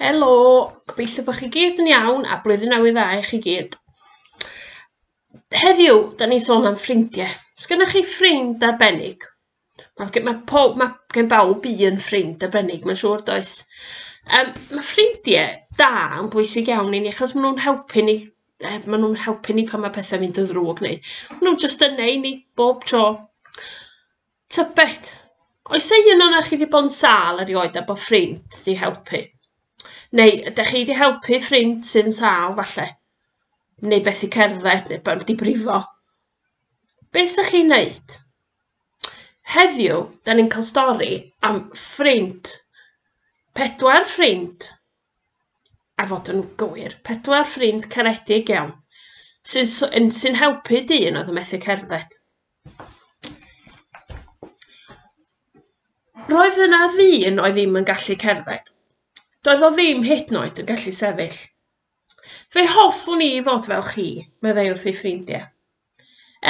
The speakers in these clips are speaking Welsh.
Helo, gobeithio bod chi gyd yn iawn a blwyddyn newydd dda i chi gyd. Heddiw, da ni'n sôn am ffrindiau. Os gennych chi ffrind arbennig, mae gen, ma pob, ma gen bawb un ffrind arbennig, mae'n siŵr does. Um, mae ffrindiau da yn bwysig iawn i ni, achos maen nhw'n helpu ni, eh, maen nhw'n helpu ni pan mae pethau mynd yn ddrwg neu maen nhw'n jyst yna i ni bob tro. Tybed, oes ei un o'na chi wedi bod yn sâl erioed a bod ffrind wedi helpu? Neu ydych chi wedi helpu ffrind sydd yn sâl falle? Neu beth i cerdded, neu bod wedi brifo? Be sy'ch chi'n wneud? Heddiw, da ni'n cael stori am ffrind. Pedwar ffrind, a fod yn gywir, pedwar ffrind caredig iawn, sy'n sy- yn- sy'n helpu dyn oedd yn methu cerdded. Roedd yna ddyn oedd ddim yn gallu cerdded. Doedd o ddim hyd yn oed yn gallu sefyll. Fe hoffwn i fod fel chi, meddai wrth ei ffrindiau.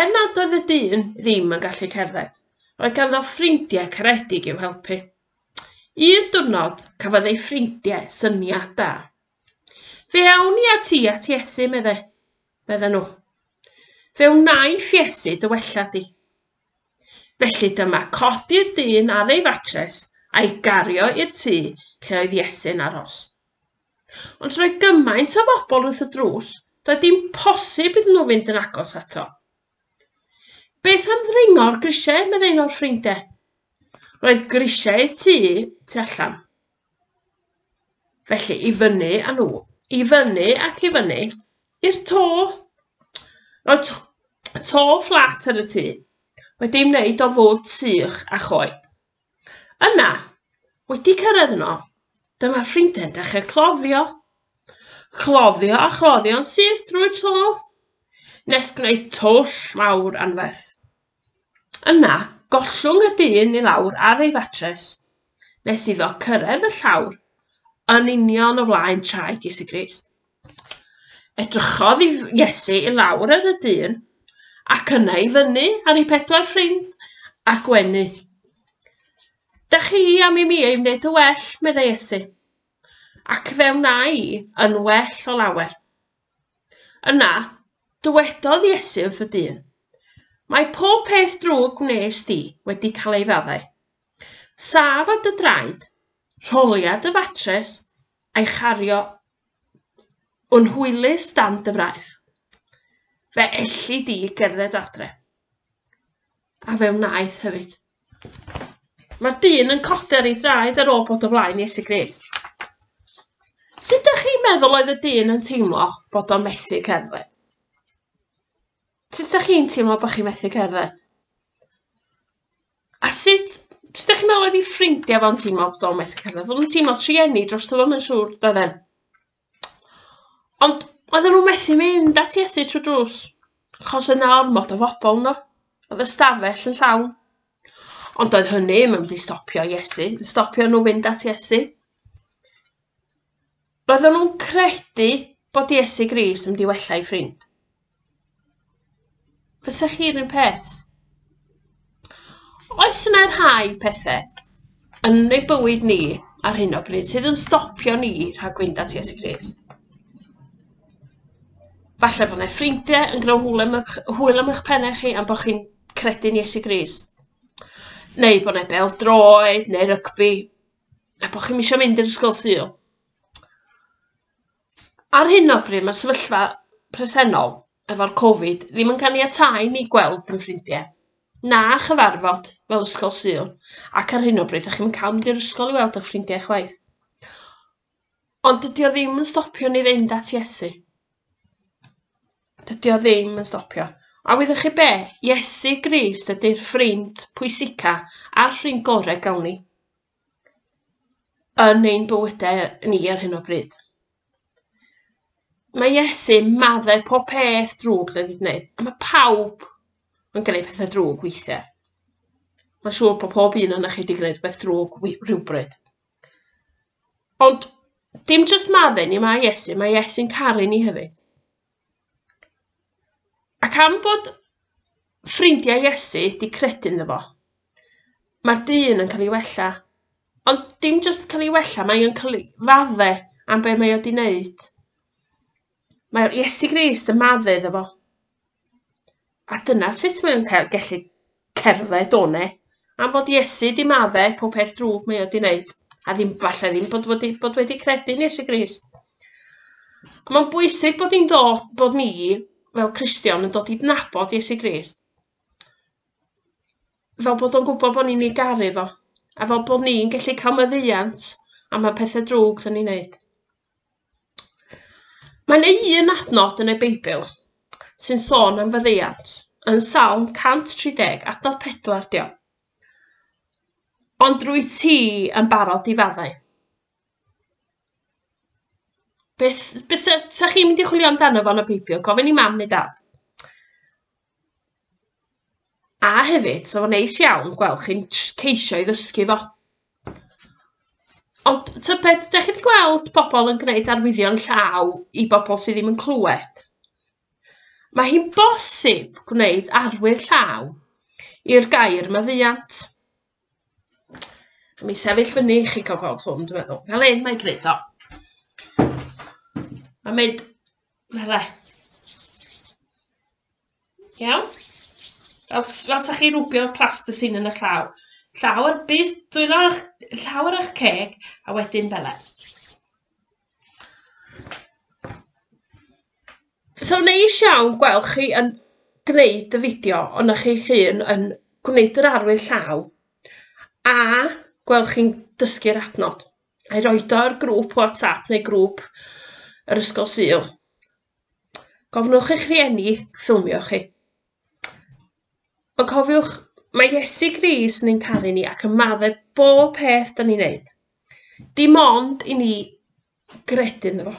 Er nad oedd y dyn ddim yn gallu cerdded, roedd ganddo ffrindiau caredig i'w helpu. Un diwrnod, cafodd ei ffrindiau syniad da. Fe awn ni at i at Iesu, medde, medde nhw. Fe wnaiff Iesu dy wella di. Felly dyma codi'r dyn ar ei fatres a'i gario i'r tŷ lle oedd Iesu'n aros. Ond roedd gymaint o bobl wrth y drws, doedd dim posib iddyn nhw fynd yn agos ato. Beth am ddringo'r grisiau, meddai un o'r ffrindau. Roedd grisiau'r tŷ tu allan. Felly, i fyny a nhw. I fyny ac i fyny. I'r to. Rhoi to, to fflat ar y tŷ. Wedi wneud o fod sych a choed. Yna, wedi cyrraedd yno, dyma ffrindiau'n dechrau cloddio. Cloddio a chloddio'n syth drwy'r to. Nes gwneud twll mawr anferth. Yna, gollwng y dyn i lawr ar ei fatres, nes iddo cyrraedd y llawr yn union o flaen traed Iesu Grist. Edrychodd i Iesu i lawr ar y dyn, ac yna i fyny ar ei pedwar ffrind a gwenu. Da chi am i mi ei wneud yn well, meddai Iesu, ac fe wna i yn well o lawer. Yna, dywedodd Iesu wrth y dyn, Mae pob peth drwg wnes di wedi cael ei faddau. Saf o dy draed, rholia dy fatres, a'i chario yn hwylus dan dy fraich. Fe elli di gerdded adre. A fe wnaeth hefyd. Mae'r dyn yn codi ar ei draed ar ôl bod o flaen Iesu Grist. Sut ydych chi'n meddwl oedd y dyn yn teimlo bod o'n methu cerdded? Sut ydych chi'n teimlo bod chi'n methu cerdded? A sut, sut ydych chi'n meddwl oedd ei ffrindiau fo'n teimlo bod o'n methu cerdded? Oedd o'n teimlo trueni dros dyfod, mae'n siŵr, doedd e? Ond oedden nhw methu mynd at Iesu trw'r drws, achos oedd 'na ormod o fobl yno, oedd y stafell yn llawn. Ond doedd hynny ddim yn mynd i stopio Iesu, stopio nhw fynd at Iesu. Roedden nhw'n credu bod Iesu Grist yn mynd i wella eu ffrind. Fysa chi'r un peth? Oes yna rhai pethe yn ei bywyd ni ar hyn o bryd sydd yn stopio ni rhag fynd at Iesu Grist? Falle bod yna ffrindiau yn gwneud hwyl am eich, hwyl am eich pennau chi am bod chi'n credu'n Iesu Grist. Neu bod yna bel droed neu rygbi a bod chi'n misio mynd i'r ysgol syl. Ar hyn o bryd mae'r sefyllfa presennol efo'r Covid ddim yn caniatáu i ni gweld yn ffrindiau, na chyfarfod fel Ysgol Sul, ac ar hyn o bryd dych chi'm yn cael mynd i'r ysgol i weld eich ffrindiau chwaith. Ond dydy o ddim yn stopio ni fynd at Iesu. Dydy o ddim yn stopio. A wyddoch chi be? Iesu Grist ydy'r ffrind pwysica a'r ffrind gorau gawn ni. yn ein bywyde ni ar hyn o bryd. Mae Iesu madde pob peth drwg da ni'n gwneud, a mae pawb yn gwneud pethau drwg weithiau. Mae'n siŵr bod pob un yna chi wedi gwneud beth drwg rhywbryd. Ond dim jyst madde ni mae Iesu, mae Iesu'n caru ni hefyd. Ac am fod ffrindiau Iesu 'di credu ynddo fo, mae'r dyn yn cael ei wella. Ond dim jyst cael ei wella, mae o'n cael ei fadde am be mae o 'di wneud. Mae Iesu Grist yn maddu iddo fo. A dyna sut mae o'n cael, gallu cerdded o 'ne. Am fod Iesu 'di madde pob peth drwg mae o 'di wneud, a ddim, falle ddim bod wedi, bod wedi credu yn Iesu Grist. A mae'n bwysig bod ni'n dod, bod ni, fel Cristion, yn dod i dnabod Iesu Grist. Fel bod o'n gwybod bod ni'n ei garu fo, a fel bod ni'n gallu cael meddiant am y pethau drwg dyn ni'n neud. Mae yna un adnod yn y Beibl sy'n sôn am faddeuant. Yn Salm 130, adnod 4 'di o. Ond rwyt ti yn barod i faddau. Beth, beth sa, sa chi'n mynd i chwilio amdano fo yn y Beibl? Gofyn i mam neu dad. A hefyd, so fo'n neis iawn gweld chi'n tr- ceisio i ddysgu fo. Ond tybed, dach chi 'di gweld pobl yn gwneud arwyddion llaw i bobl sy ddim yn clywed? Mae hi'n bosib gwneud arwydd llaw i'r gair maddeuant. Mi sefyll fyny i chi cael gweld hwn, dwi'n meddwl. Fel hyn mae'n gwneud o. Mae'n mynd... Fel e. Iawn? Fel, fel sa chi rwbio plasticine yn y llaw. Llaw ar bus, dwylo llaw ar eich ceg, a wedyn fel e. So neis iawn gweld chi yn gwneud y fideo ond o'ch chi'ch hun yn gwneud yr arwydd llaw a gweld chi'n dysgu'r adnod. a'i roid o ar grŵp WhatsApp neu grŵp yr ysgol Sul. Gofnwch eich rhieni ffilmio chi. Ond cofiwch, mae Iesu Gris yn ein caru ni ac yn maddau bob peth da ni'n neud. Dim ond i ni gredu ynddo fo.